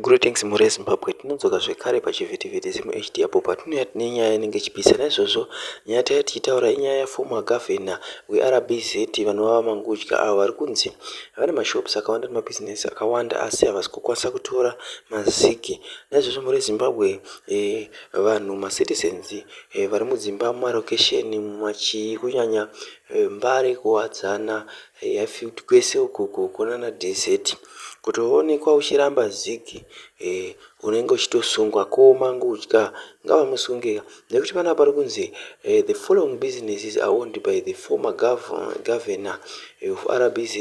Greetings mhuri yeZimbabwe, tinodzoka zvekare pachivhitivhiti ZimHD apo patinouya tine nyaya inenge ichipisa. Naizvozvo nyaya taiya tichitaura inyaya yaformer governor weRBZ vanova VaMangudya avo vari kunzi vane mashops akawanda nemabhizinesi akawanda asi havasi kukwanisa kutora maziki. Naizvozvo mhuri yeZimbabwe, eh, vanhu macitizens eh, vari mudzimba mumarokesheni mumachii kunyanya eh, Mbare, Kuwadzana, Eya field kwese uko uko uko nana DZ kutoonekwa uchiramba zig eh, unenge uchitosungwa ko mangudya ngavamusunge nekuti panapa pari kunzi eh, the following businesses are owned by the former gov governor eh, of RBZ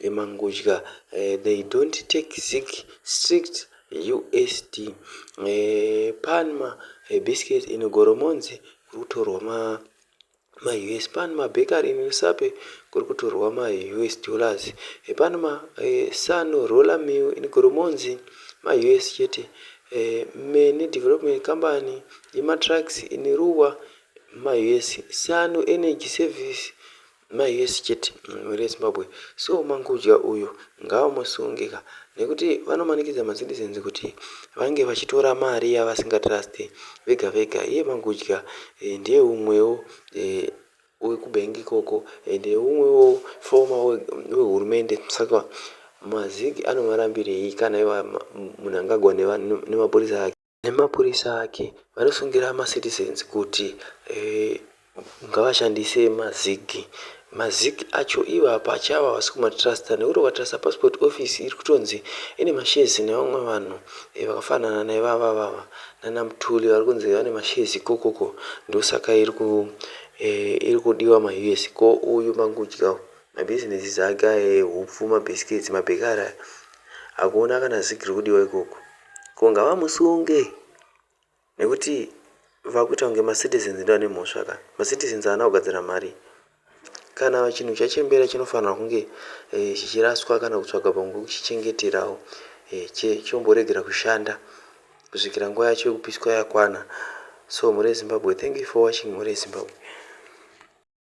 eh, mangudya eh, they don't take zig strict USD eh, panma eh, biscuits in Goromonzi kuri kutorwa ma Ma us pan ma bakery in rusape kuri kutorwa ma us dollars e pan ma e, sano roller mill in goromonzi ma us chete e, me ne development company ye ma trucks in ruwa ma us sano energy service ma us chete mhuri yezimbabwe so mangudya uyu ngaamusunge ka Nekuti vanomanikidza ma citizens kuti vange vachitora mari yavasinga trust vega vega iye magudya ndiye umwewo weku bank ikoko and umwewo former we hurumende saka ma zig anovarambirei kana ivo munangagwa nemapurisa ake. nemapurisa ake vanosungira macitizens kuti eh, ngavashandise mazig mazig acho ivo hapacha ava havasi kumatrusta nekuti ukatrusta passport office iri kutonzi ine mashezi nevamwe vanhu eh, vakafanana naivava vava nana mutuli vari kunzi vane mashezi ikokoko ndosaka iri ku eh, iri kudiwa maus ko uyu mangudya mabhizinesi zake aye hupfu mabhiskets mabhekari aya hakuona kana zig riri kudiwa ikoko Ko ngavamusunge nekuti vakuita kunge macitizens ndiwo ane mhosva ka macitizens haana kugadzira mari kana chinhu chachembera chinofanirwa kunge eh, chichiraswa kana kutsvaga pamwe kuchichengeterawo eh, chomboregera kushanda kusvikira nguva yacho yekupiswa yakwana so mhuri yezimbabwe thank you for watching mhuri yezimbabwe